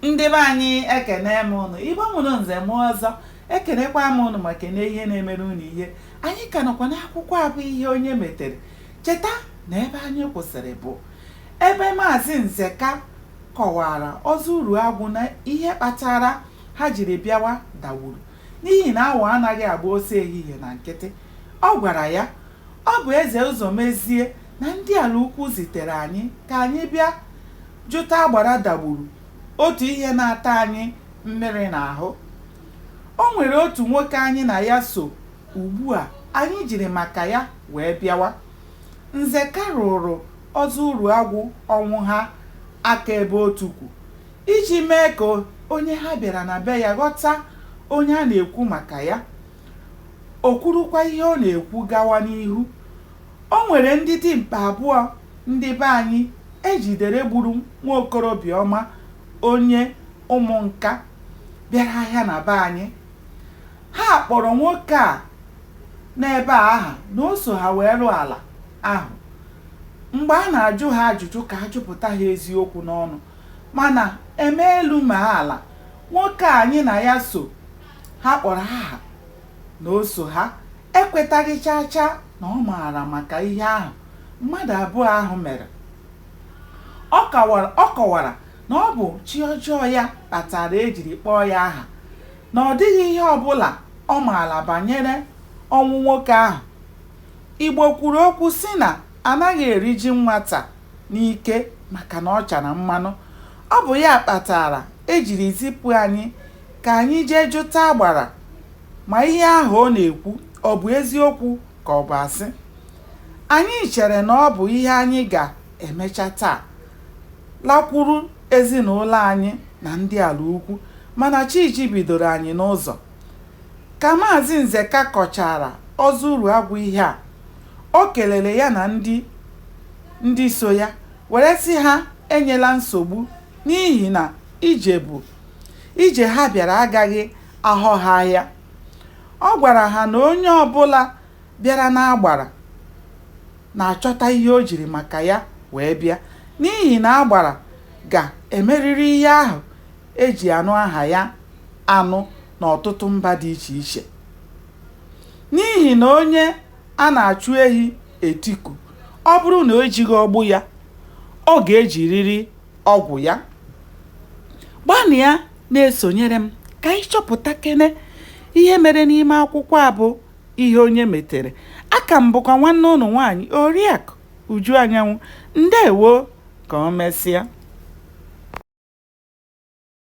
Ndị be anyị ekene m ụnụ Igbo mụrụ nze mụọ ọzọ ekenekwa m ụnụ ma kene ihe na-emere ụnụ ihe anyị ka nọkwa n'akwụkwọ a bụ ihe onye metere cheta na ebe anyị kwụsịrị bụ ebe maazị Nzeka kọwara Ọzọ Uruagwụ na ihe kpatara ha jiri bịawa Dagburu n'ihi na awọ anaghị agba ọsọ ehihie na nkịtị ọ gwara ya ọ bụ Eze Ụzọmezie na ndị Alaukwu zitere anyị ka anyị bịa jụta Agbara Dagburu otu ihe na-ata anyị mmiri n'ahụ. O nwere otu nwoke anyị na ya so ugbu a anyị jiri maka ya wee bịawa. Nzeka rụụrụ Ọzọ Uruagwụ Ọnwụha aka ebe o tukwu iji mee ka onye ha bịara na be ya ghọta onye a na-ekwu maka ya. O kwurukwa ihe ọ na-ekwu gawa n'ihu. O nwere ndị dimkpa abụọ ndị be anyị e jidere gburu nwa okorobịa ọma onye Ụmụnka bịara ahịa na be anyị. Ha kpọrọ nwoke a nọ ebe a aha na o so ha wee rụọ ala ahụ. Mgbe a na-ajụ ha ajụjụ ka a jụpụta ha eziokwu n'ọnụ mana e mee elu mee ala, nwoke a anyị na ya so ha kpọrọ aha na o so ha ekwetaghị chaa chaa na ọ maara maka ihe ahụ mmadụ abụọ ahụ mere ọ kọwara na ọ bụ chi ọjọọ ya kpatara e jiri kpọọ ya aha na ọ dịghị ihe ọbụla ọ maara banyere ọnwụ nwoke ahụ Igbo kwuru okwu sị na anaghị eri ji nwata n'ike maka na ọ chara mmanụ ọ bụ ya kpatara e jiri zipụ anyị Ka anyị jee jụta Agbara ma ihe ahụ ọ na-ekwu ọ bụ eziokwu ka ọ bụ asị. Anyị chere na ọ bụ ihe anyị ga-emecha taa, lakwuru ezinaụlọ anyị na ndị Alaukwu mana chi jibidoro anyị n'ụzọ. Ka Maazị Nzeka kọchaara Ọzọ Uruagwụ ihe a, o kelere ya na ndị ndị so ya were sị ha enyela nsogbu n'ihi na ije bụ Ije ha bịara agaghị aghọ ha ahịa. Ọ gwara ha na onye ọbụla bịara n'Agbara na-achọta ihe o jiri maka ya wee bịa n'ihi na Agbara ga-emerịrị ihe ahụ e ji anụ aha ya anụ n'ọtụtụ mba dị iche iche. N'ihi na onye a na-achụ ehi etiku, ọ bụrụ na o jighị ọgbụ ya, ọ ga-ejirịrị. ọgwụ ya gbanịa na-esonyere m ka anyị chọpụta kene ihe mere n'ime akwụkwọ a bụ ihe onye metere aka m bụkwa nwanne ụnụ nwaanyị oriakụ uju anyanwụ ndewo ka o mesịa